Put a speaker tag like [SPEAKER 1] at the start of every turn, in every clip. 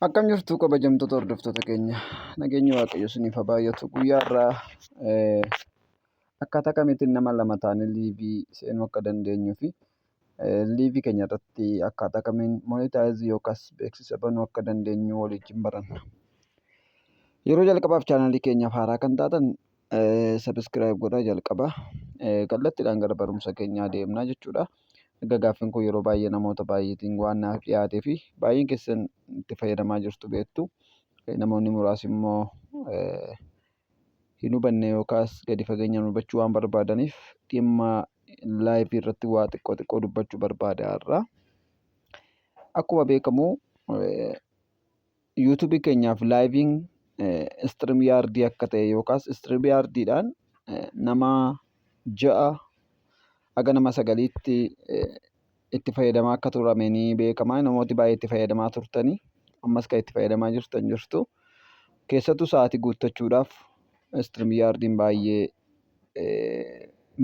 [SPEAKER 1] Akkam jirtu kabajamtoota hordoftoota keenya nageenyi waaqayyo isiniif haa baay'atu guyyaa irraa akkaataa kamiitiin nama lama taanee liivii seenuu akka dandeenyuu fi liivii keenya irratti akkaataa kamiin monitaayizii yookaas beeksisa banuu akka dandeenyu waliin baranna. Yeroo jalqabaaf chaanalii keenyaaf haaraa kan taatan subscribe godhaa jalqaba kallattiidhaan gara barumsa keenyaa deemnaa jechuudha. Erga gaaffiin kun yeroo baay'ee namoota baay'eetiin waan naaf dhiyaatee fi baay'een keessan itti fayyadamaa jirtu beektu. Namoonni muraasi immoo hin hubanne yookaas gadi fageenyaan hubachuu waan barbaadaniif dhimma laayivii irratti waa xiqqoo xiqqoo dubbachuu barbaada har'a. Akkuma beekamu yuutuubii keenyaaf laayiviin istiriim yaardii akka ta'e yookaas istiriim yaardiidhaan nama ja'a haga nama sagaliitti itti fayyadamaa akka turame ni beekama. Namooti baay'ee itti fayyadamaa turtanii ammas kan itti fayyadamaa jirtan jirtu. Keessattuu sa'aatii guuttachuudhaaf istiriim yaardiin baay'ee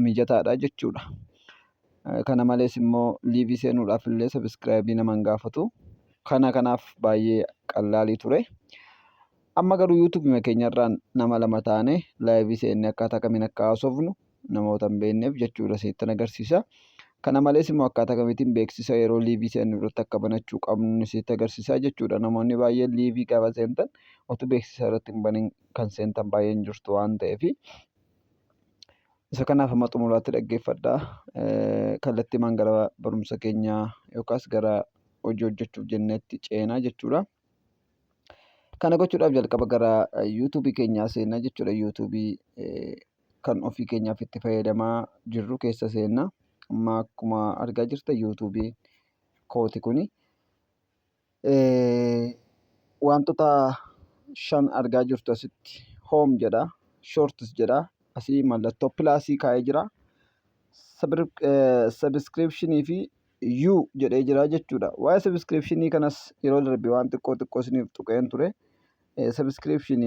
[SPEAKER 1] mijataadha jechuudha. Kana malees immoo liivii seenuudhaaf illee sabiskiraayibii nama hin gaafatu. Kana kanaaf baay'ee qallaalii ture. Amma garuu yuutuubima keenyarraan nama lama taane laayivii seenne akkaataa kamiin akka haasofnu namoota hin beekneef jechuudha isinitti agarsiisa. Kana malees immoo akkaataa kamiitiin beeksisa yeroo liivii seennu irratti akka banachuu qabnu isinitti agarsiisa jechuudha. Namoonni baay'een liivii gaafa seentan otuu beeksisa irratti hin banin kan seentan baay'een jirtu waan ta'eefi. Isa kanaaf amma xumuraatti dhaggeeffadha. Kallattiimaan gara barumsa keenyaa yookaas gara hojii hojjechuuf jenneetti ceenaa jechuudha. Kana gochuudhaaf jalqaba gara yuutuubii keenyaa seenna jechuudha. Yuutuubii kan ofii keenyaaf itti fayyadamaa jirru keessa seenna. Amma akkuma argaa jirtan yuutuubii kooti kuni. Wantoota shan argaa jirtu asitti home jedha shorts jedha asii mallattoo pilaasii kaa'ee jira subscription fi you jedhee jira jechuudha waa'ee subscription kanas yeroo darbe waan xiqqoo xiqqoo isiniif tuqeen ture subscription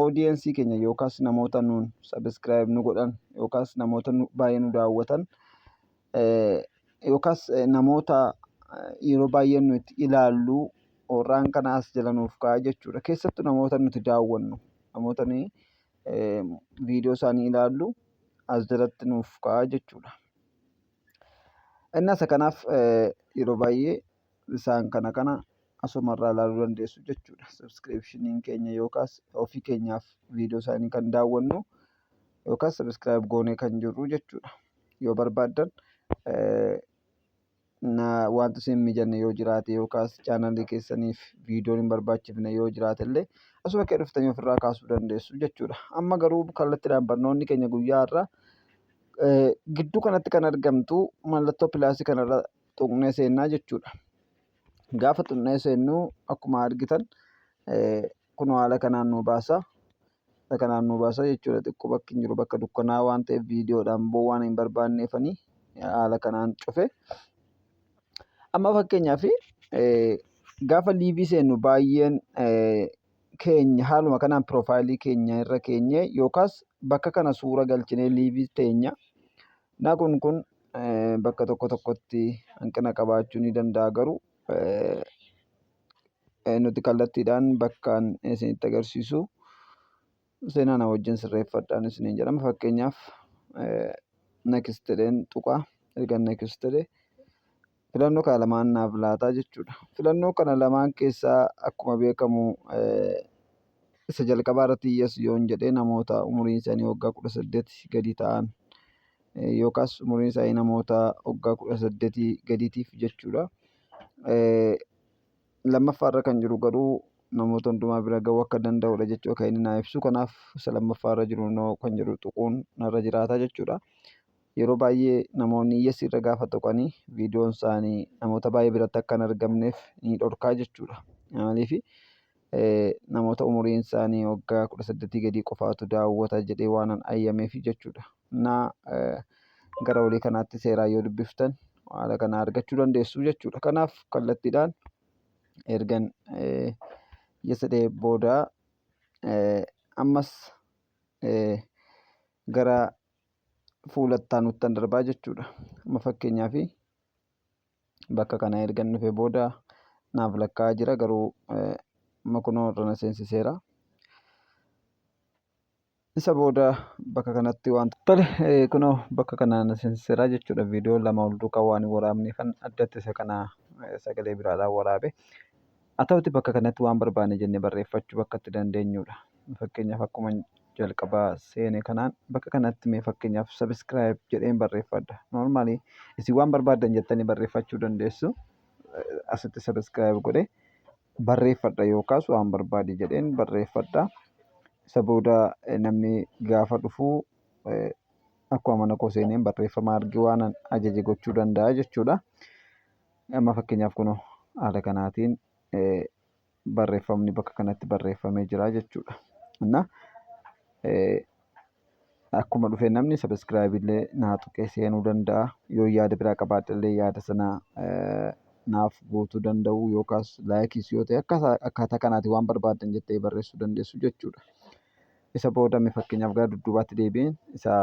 [SPEAKER 1] audience keenya yookaas namoota nuun subscribe nu godhan yookaas namoota baay'ee nu daawwatan yookaas namoota yeroo baay'ee nuti ilaallu warraan kana as jala nuuf kaa'a jechuudha. Keessattu namoota nuti daawwannu namoota nuyi viidiyoo isaanii ilaallu as jalatti nuuf kaa'a jechuudha. Innas kanaaf yeroo baay'ee isaan kana kana asumarraa ilaaluu dandeessu jechuudha. Sabiskiripshiniin keenya yookaas ofii keenyaaf viidiyoo isaanii kan daawwannu yookaas sabiskiraayib goonee kan jirru jechuudha. Yoo barbaaddan wanti isin mijanne yoo jiraate yookaas chaanalii keessaniif viidiyoon hin barbaachifne yoo jiraate illee asuma kee dhuftanii ofirraa kaasuu dandeessu jechuudha. Amma garuu kallattiidhaan barnoonni keenya guyyaa har'aa gidduu kanatti kan argamtu mallattoo pilaasii kanarra tuqnee seennaa jechuudha. Gaafa tuqnee seennuu akkuma argitan kun haala kanaan nu baasa. Haala kanaan nu baasa jechuudha xiqqoo bakki hin jiru bakka dukkanaa waan ta'eef viidiyoodhaan boo waan hin barbaanneefanii haala kanaan cufe. Amma fakkeenyaaf gaafa liivii seennu baay'een keenya haaluma kanaan piroofaayilii keenya irra keenyee yookaas bakka kana suura galchinee liivii teenya Naa kun kun bakka tokko tokkotti hanqina qabaachuu ni danda'a garuu nuti kallattiidhaan bakkaan isinitti agarsiisu seenaa na wajjin sirreeffadhaan isiniin jedhama fakkeenyaaf next jedheen tuqa ergan next jedhe Filannoo kana lamaan naaf laataa jechuudha. Filannoo kana lamaan keessaa akkuma beekamu isa jalqabaa irratti yes yoon jedhee namoota umuriin isaanii waggaa kudha saddeet gadi ta'an yookaas umuriin isaanii namoota waggaa kudha saddeetii gadiitiif jechuudha. Lammaffaa irra kan jiru garuu namoota hundumaa bira ga'uu akka danda'udha jechuudha kan inni naa ibsu. Kanaaf isa lammaffaa irra jiru kan jedhu tuquun narra jiraata jechuudha. Yeroo baay'ee namoonni yes irra gaafa tuqani viidiyoon isaanii namoota baay'ee biratti akka hin argamneef ni dhorkaa jechuudha. Maaliif namoota umuriin isaanii waggaa kudha saddeetii gadii qofaatu daawwata jedhee waanan ayyameef jechuudha. Naa gara olii kanaatti seeraan yoo dubbiftan haala kana argachuu dandeessu jechuudha. Kanaaf kallattiidhaan ergan yes jedhee booda ammas gara fuula ittaanuttan darbaa jechuudha. Amma fakkeenyaaf bakka kana ergan dhufe booda naaf lakkaa'aa jira garuu amma kunoo irra na seensiseera. Isa booda bakka kanatti waan tole kunoo bakka kana na seensiseera jechuudha. Viidiyoo lama ol duukaa waan hin waraabneefan addatti isa kana sagalee biraadhaan waraabe. Haa ta'uti bakka kanatti waan barbaanne jenne barreeffachu bakka itti dandeenyuudha. Fakkeenyaaf akkuman jalqabaa seene kanaan bakka kanatti mee fakkeenyaaf subscribe jedheen barreeffadha. Normally isin waan barbaaddan jettanii barreeffachuu dandeessu. Asitti subscribe godhe barreeffadha yookaas waan barbaadi jedheen barreeffadha. Isa booda namni gaafa dhufu akkuma mana koo seeneen barreeffama arge waanan ajaje gochuu danda'a jechuudha. Amma fakkeenyaaf kun haala kanaatiin barreeffamni bakka kanatti barreeffamee jira jechuudha. Inna akkuma dhufe namni sabiskiraayib illee naa tuqee seenuu danda'a. Yoo yaada biraa qabaadhe illee yaada sana naaf guutuu danda'u yookaas laayikiis yoo ta'e akkaataa kanaatiin waan barbaaddan jettee barreessuu dandeessu jechuudha. Isa booda fakkeenyaaf gara dudduubaatti deebi'een isa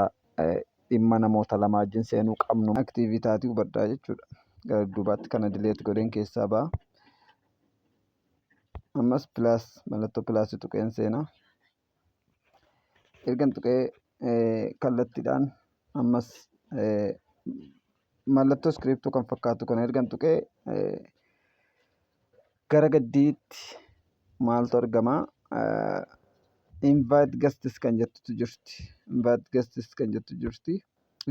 [SPEAKER 1] dhimma namoota lama wajjin seenuu qabnu aktiivii taatii hubadhaa jechuudha. Gara duubaatti kana dileet godheen keessaa ba'a. Ammas pilaas mallattoo pilaasii tuqeen seena. Ergan tuqee kallattiidhaan ammas mallattoo iskiriiptuu kan fakkaatu kana ergan tuqee gara gaddiitti maaltu argama invite guests kan jettutu jirti invite guests kan jettu jirti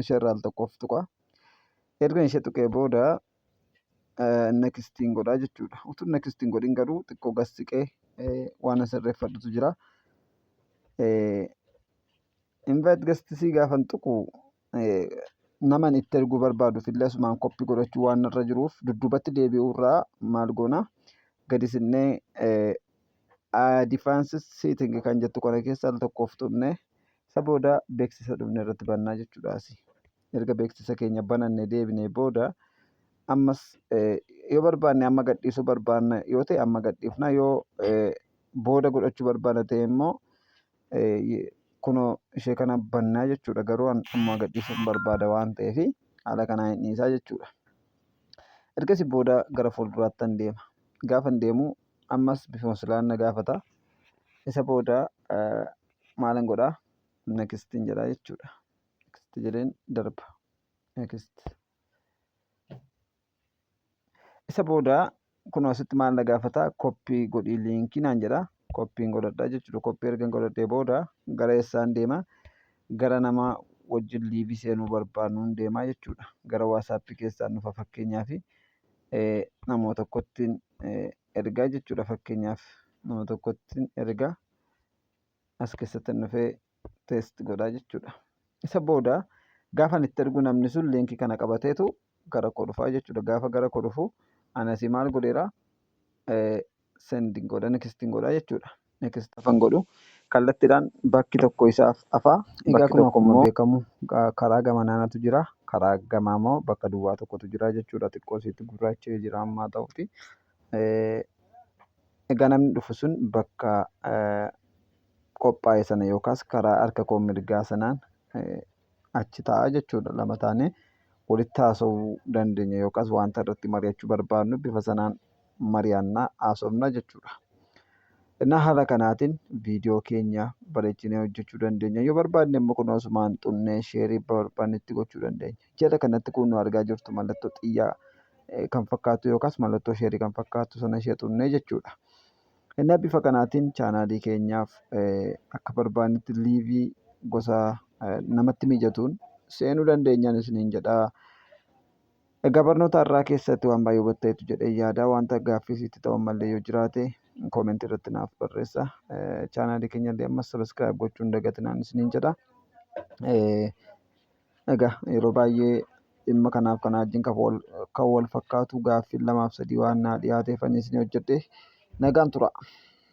[SPEAKER 1] ishee irraa al tokkoof tuqa ergan ishee tuqee booda nekistiin godhaa jechuudha utuu nekistiin godhin garuu xiqqoo gas siqee waan sirreeffadhutu jira invite guests gaafan tuqu naman itti erguu barbaaduf illee asumaan koppi godhachuu waan irra jiruuf dudduubatti deebi'uu irraa maal goona gadi sinnee advance setting kan jettu kana keessa al tokkoof tuqne isa booda beeksisa dhufne irratti bannaa jechuudhaas erga beeksisa keenya bananne deebinee booda ammas yoo barbaanne amma gadhiisuu barbaanna yoo ta'e amma gadhiifna yoo booda godhachuu barbaanna ta'e immoo Kunoo ishee kana bannaa jechuudha garuu ammaa gadhiisuun barbaada waan ta'eef haala kanaan hin dhiisaa jechuudha. Ergasi booda gara fuulduraattan deema. Gaafan deemu ammas bifuma silaan na gaafata. Isa booda maalan godhaa nakistiin jedhaa jechuudha. Nakistii jedheen darba. Nakist. Isa booda kun asitti maal na gaafata koppii godhii liinkii naan jedha koppiin godhadha jechuudha koppii ergan godhadhee booda gara eessaan deema gara nama wajjin liivii seenuu barbaannuun deemaa jechuudha gara waasaappii keessaan dhufa fakkeenyaa fi namoo tokkottiin ergaa jechuudha fakkeenyaaf nama tokkottiin ergaa as keessattan dhufee test godhaa jechuudha. Isa booda gaafan itti ergu namni sun liinkii kana qabateetu gara koo dhufaa jechuudha. Gaafa gara koo dhufu anasi maal godheera sendin godha nekistin godha jechuudha. Nekist afan godhu kallattiidhaan bakki tokko isaaf afaa bakki tokko immoo beekamu karaa gama naanatu jira. Karaa gamaa immoo bakka duwwaa tokkotu jira jechuudha. Xiqqoo isiitti gurraachee jira ammaa ta'uti. Egaa namni dhufu sun bakka qophaa'e sana yookaas karaa harka koo mirgaa sanaan achi taa'a jechuudha. Lama taanee walitti haasa'uu dandeenya yookaas wanta irratti mari'achuu barbaadnu bifa sanaan mari'anna haasofna jechuudha. Innaa haala kanaatiin viidiyoo keenya bareechinee hojjechuu dandeenya. Yoo barbaadne immoo kun osumaan xunnee sheerii barbaannetti gochuu dandeenya. Jala kanatti kun nu argaa jirtu mallattoo xiyyaa kan fakkaatu yookaas mallattoo sheerii kan fakkaatu sana ishee xunnee jechuudha. Innaa bifa kanaatiin chaanaalii keenyaaf akka barbaannetti liivii gosa namatti mijatuun seenuu dandeenyaan isiniin jedhaa. Egaa barnoota har'aa keessatti waan baay'ee hubatteetu jedhee yaada. Wanta gaaffii sitti ta'u ammallee yoo jiraate koomentii irratti naaf barreessa. Chaanaalii keenya illee ammas sabiskiraayib gochuun dagatinaan isiniin jedha. Egaa yeroo baay'ee dhimma kanaaf kanaa wajjin kan wal fakkaatu gaaffiin lamaaf sadii waan naa dhiyaateef ani isinii hojjedhe. Nagaan turaa!